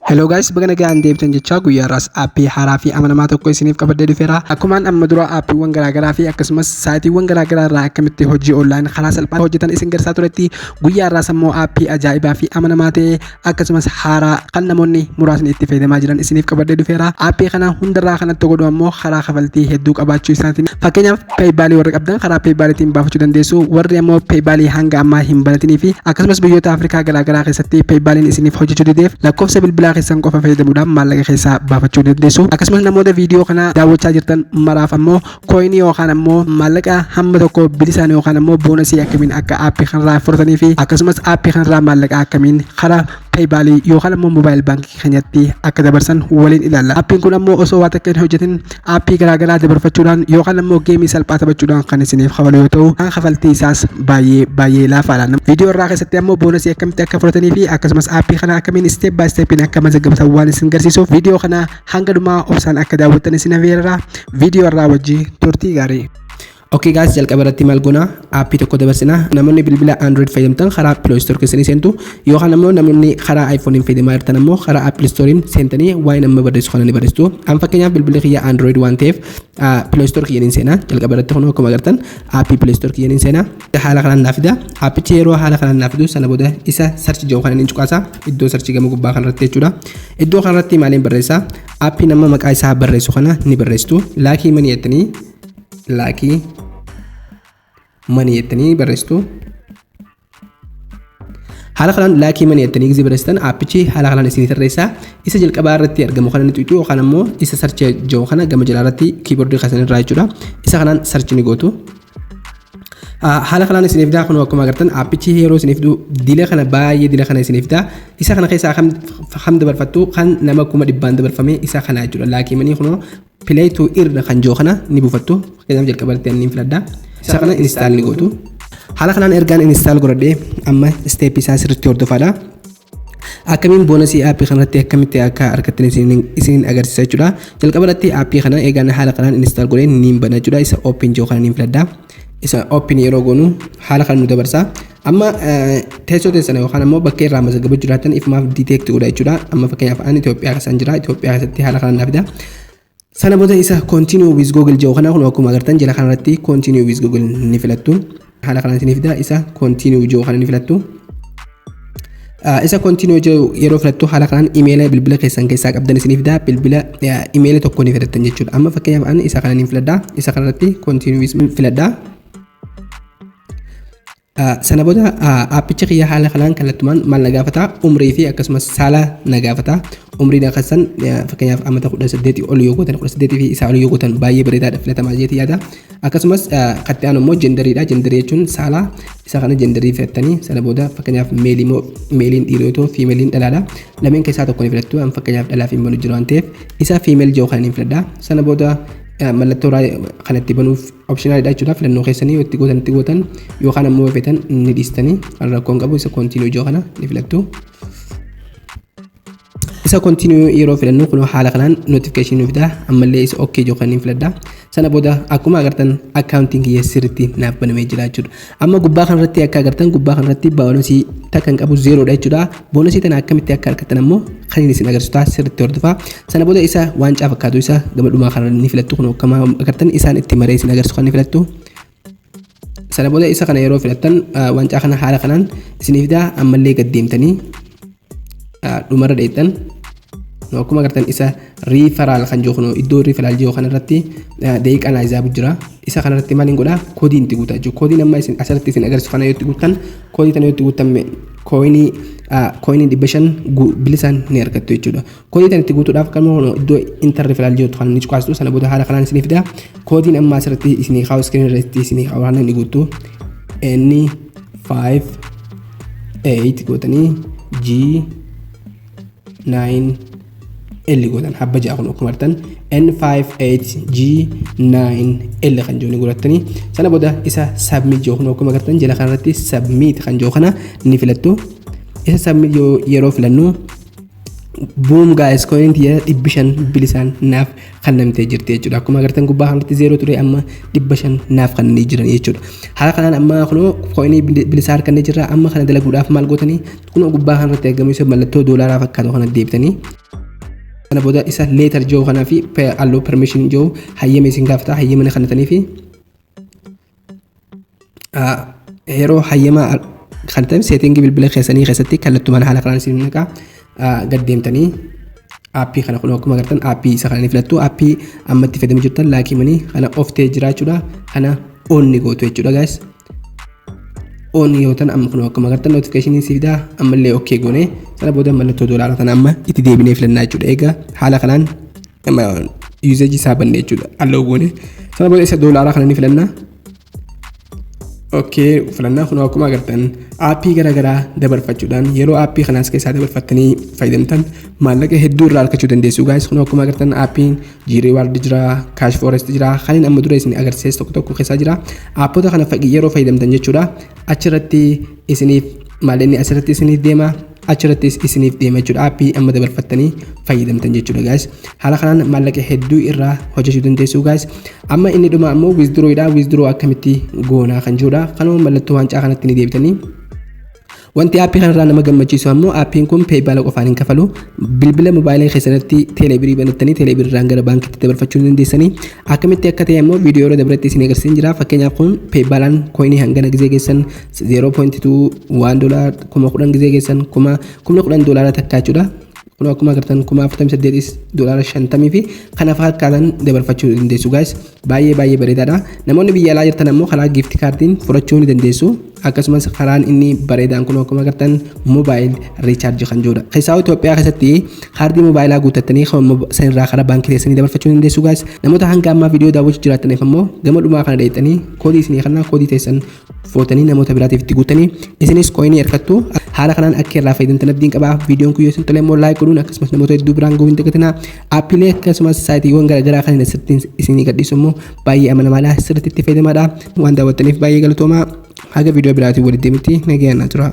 Hello guys baga nagaan deebitan jechaa guyyaa irraas aappii haaraa fi amanamaa tokko isiniif qabadhee dhufeera akkumaan amma dura aappiiwwan garaagaraa fi akkasumas saayitiiwwan garaagaraa irraa akkamitti hojii online karaa salphaan hojjetan isin garsaa turetti guyyaa irraas ammoo aappii ajaa'ibaa fi amanamaa ta'e akkasumas haaraa kan namoonni muraasni itti fayyadamaa jiran isiniif qabadhee dhufeera aappii kana hundarraa kanatti godhu ammoo karaa kafaltii hedduu qabaachuu isaatiin fakkeenyaaf peeybaalii warri qabdan karaa peeybaaliitiin baafachuu dandeessu warri ammoo peeybaalii hanga ammaa hin banatinii fi akkasumas biyyoota afrikaa garaagaraa keessatti peeybaaliin isiniif hojjechuu dideef lakkoofsa bilbilaa keessan qofa fayyadamuudhaan maallaqa keessaa baafachuu dandeessu akkasumas namoota viidiyoo kana daawwachaa jirtan maraaf ammoo kooyinii yookaan ammoo maallaqa hamma tokko bilisaan yookaan ammoo boonasii akkamiin akka aappii kanarraa fudhatanii fi akkasumas aappii kanarraa maallaqa akkamiin karaa peeybaalii yookaan ammoo moobaayil baankii keenyatti akka dabarsan waliin ilaalla. Appiin kun ammoo osoo waa takka hin hojjetin appii garaagaraa dabarfachuudhaan yookaan ammoo geemii salphaa taphachuudhaan kan isiniif kafalu yoo ta'u kan kafaltii isaas baay'ee baay'ee laafaadha. Viidiyoo irraa keessatti ammoo boonasii akkamitti akka fudhatanii fi akkasumas appii kana akkamiin isteep baay isteepiin akka mazaggabatan waan isin garsiisuuf viidiyoo kana hanga dhumaa obsaan akka daawwattan isin hafeerra viidiyoo irraa wajjin turtii gaarii. Ok guys jalqaba irratti maal goona aappii tokko dabarsina namoonni bilbila android fayyadamtan karaa play store keessanii seentu yookaan ammoo namoonni karaa iphone hin fayyadamaa jirtan ammoo karaa apple store seentanii waa'ee nama barreessu kana ni barreessitu an fakkeenyaaf bilbilli kiyya android waan ta'eef play store kiyyan hin seena jalqaba irratti kun akkuma agartan aappii play store kiyyan hin seena haala kanaan naaf fida aappichi yeroo haala kanaan naaf fidu sana booda isa sarchi jedhu kanan hin cuqaasa iddoo sarchi gama gubbaa kanarratti jechuudha iddoo kanarratti maaliin barreessa aappii nama maqaa isaa barreessu kana ni barreessitu laakii manii jettanii laakii manii jettanii barreessitu. Haala kanaan laakii manii jettanii gizii barreessitan aappichi haala kanaan isinii tarreessaa isa jalqabaa irratti argamu kana ni tuqxu yookaan ammoo isa sarchii jedhu kana gama jalaa irratti kiiboordii keessan irraa jechuudha. Isa kanaan sarchii ni gootu. Haala kanaan isiniif daa kun akkuma agartan aappichi yeroo isiniif du dila kana baay'ee dila kana isiniif daa isa kana keessaa kam dabarfattu kan nama kuma dhibbaan dabarfame isa kana jechuudha laakii manii kunoo Play to irra kan jiru kana ni buufattu. Fakkeenyaaf jalqabarratti anniin filadha. Isa kana install ni gootu. Haala kanaan ergaan install godhadhee amma step isaa sirriitti hordofaadha. akkamiin boonasii aappii kanarratti akkamitti akka argattan isiniin agarsiisa jechuudha. Jalqaba irratti aappii kana eegaan haala kanaan install godhee niin bana jechuudha. Isa open jiru kana niin filadha. isa open yeroo goonu haala kan nu dabarsa amma teessoo teessana yookaan ammoo bakkee irraa mazaggaba jiraatan ifumaaf detect godha jechuudha amma fakkeenyaaf ani Itoophiyaa keessan jira Itoophiyaa keessatti haala kanaan naaf fida sana booda isa continue with google jedhu kana kun akkuma agartan jala kanarratti continue with google ni filattu haala kanaan isin fida isa continue jedhu kana ni filattu Ah, isa continue jedhu yeroo filattu haala kanaan imeela bilbila keessan keessaa qabdan isiniif fida bilbila ah, imeela tokko ni filattan jechuudha amma fakkeenyaaf ani isa kana niin filadha isa kanarratti continue with min filadha Ah, sana booda ah, aappicha kiyya haala kanaan kallattumaan maal na gaafata umrii fi akkasumas saala na gaafata umriin akkasaan ah, fakkeenyaaf ammata 18 ol yoo gootan 18 fi isaa ol yoo gootan baay'ee bareedaadha filatamaa jeeti yaada akkasumas ah, katta'aan immoo jendariidha jendarii jechuun saala Isa kana jendarii filattanii sana booda fakkeenyaaf meelii moo meeliin dhiiroo yoo ta'u fiimeliin dhalaadha. Lameen keessaa tokko ni filattu an fakkeenyaaf dhalaa fi hin jiru waan ta'eef isa fiimel jiru kana ni filadha. Sana booda mallattoo kana itti banuuf opshinaaliidha jechuudha filannoo keessanii yoo itti gootan itti gootan yookaan ammoo yoo feetan ni dhiistanii rakkoon qabu isa koontiinuu jiru kana ni filattu. isa continue yeroo filannu kun haala kanaan notification nu fida ammallee isa ok jiru kan hin filadha sana booda akkuma agartan accounting kiyya sirriitti naaf banamee jira jechuudha amma gubbaa kanarratti akka agartan gubbaa kanarratti baalasii takka hin qabu zeeroodha jechuudha boonasii tana akkamitti akka argattan ammoo kan inni isin agarsiisu ta'a sirriitti hordofaa sana booda isa waancaa fakkaatu isa gama dhumaa kanarra ni filattu kun akkuma agartan isaan itti maree isin agarsiisu kan ni filattu Sana booda isa kana yeroo filattan wancaa kana haala kanaan isinii fidaa ammallee gad deemtanii dhumarra dheettan akkuma agartan isa riifaraal kan jiru kun iddoo riifaraal jiru kanarratti daqiiqaa naa izaabu jira isa kanarratti maal hin godhaa koodii itti guutaa jiru koodiin amma isin asirratti isin agarsiisu kana yoo itti guuttan koodii kana yoo itti guuttan kooyinii kooyinii dhibba shan bilisaan ni argattu jechuudha Koodii tan itti guutuudhaaf qalma kun iddoo intar referaal jirtu kan inni cuqaastu sana booda haala kanaan isinii fida. Koodiin amma asirratti isinii kaa'u iskiriin irratti isinii kaa'u haala inni guutu N 5 8 gootanii G 9 L gootan habba ja'a kun akkuma artan N58G 9L kan jiru ni godhattanii sana booda isa submit jiru kun akkuma agartan jala kanarratti submit kan jiru kana ni filattu isa submit yeroo filannu boom guys coin tiyya dhibbi shan bilisaan naaf kennamtee jirti jechuudha akkuma agartan gubbaa kanatti zeeroo ture amma dhibba shan naaf kennanii jiran jechuudha haala kanaan amma kunoo coinii bilisaa harkannee jirra amma kana dalaguudhaaf maal gootanii kunoo gubbaa kanarratti argamu isa mallattoo doolaaraa fakkaatu kana deebitanii kana booda isa leetar jiru kanaa fi alloo permission jiru hayyama isin gaafata hayyama na kennitanii fi yeroo hayyama kan ta'e seetingii bilbila keessanii keessatti kallattumaan haala kanaan isin naqaa gad deemtanii aappii kana kun akkuma agartan aappii isa kana ni filattu aappii amma itti fayyadamaa jirtan laakii manii kana of ta'ee jira jechuudha kana on ni gootu jechuudha gaas on yoo ta'an amma kun akkuma agartan notifikashinii si fidaa ammallee ok goone sana booda mallattoo doolaara kana amma itti deebinee filannaa jechuudha egaa haala kanaan yuuzeejii isaa banne jechuudha alloo goone sana booda isa doolaaraa kana ni filanna okkee filannaa kun akkuma agartan aappii garaagaraa dabarfachuudhaan yeroo aappii kanaas keessaa dabarfattanii fayyadamtan maallaqa hedduu irraa argachuu dandeessu gaayis kun akkuma agartan aappiin jiiree waardi jira kaash foorest jira kanneen amma dura isin agarsiise tokko tokko keessaa jira aappota kana yeroo fayyadamtan jechuudha achirratti isiniif maal inni asirratti isiniif deema achirrattis isiniif deema jechuudha appii amma dabarfattanii fayyadamtan jechuudha gaas haala kanaan maallaqa hedduu irraa hojjechuu dandeessuu gaas amma inni dhuma ammoo wizduroo dha wizduroo akkamitti goonaa kan jirudha kanuma mallattoo waancaa kanatti ni deebitanii Wanti aappii kanarraa nama gammachiisu ammoo aappiin kun peepaala qofaan hin kafalu. Bilbila mobaayilii keessanirratti teeleebirii banattanii teeleebiriirraan gara baankiitti dabarfachuu dandeessanii akkamitti akka ta'e ammoo viidiyoo irra dabretti isin agarsiisan jira. Fakkeenyaaf kun peepaalaan kooyinii hangana gizee keessan 0.21 doolaar kuma kudhan gizee keessan kuma kumni kudhan doolaara takkaa jechuudha. Kun akkuma agartan kuma afurtamii saddeetis doolaara shantamii fi kana fakkaatan dabarfachuu dandeessu guys. Baay'ee baay'ee bareedaadha. Namoonni biyya alaa jirtan ammoo karaa giifti kaardiin fudhachuu ni dandeessu. Akkasumas karaan inni bareedaan kun akkuma agartan moobaayil riichaarjii kan jirudha. Keessaa Itoophiyaa keessatti kaardii moobaayilaa guuttattanii sanirraa karaa baankii keessanii dabarfachuu ni dandeessu guys. Namoota hanga ammaa viidiyoo daawwachuu jiraataniif ammoo gama dhumaa kana dheettanii koodii isinii kanaa koodii teessan footanii namoota biraatiif itti guuttanii isinis kooyinii harkattu haala kanaan akka irraa fayyadamtan abdiin qaba viidiyoon kun yoo isin tole immoo laayik godhuun akkasumas namoota hedduu biraan ga'uu hin dagatinaa aappiilee akkasumas saayitiiwwan garaagaraa kan asirratti isinii gadhiisu immoo baay'ee amanamaadha sirriitti itti fayyadamaadha waan daawwattaniif baay'ee galatoomaa haga viidiyoo biraatiin walitti deebinutti nagayaan na turaa.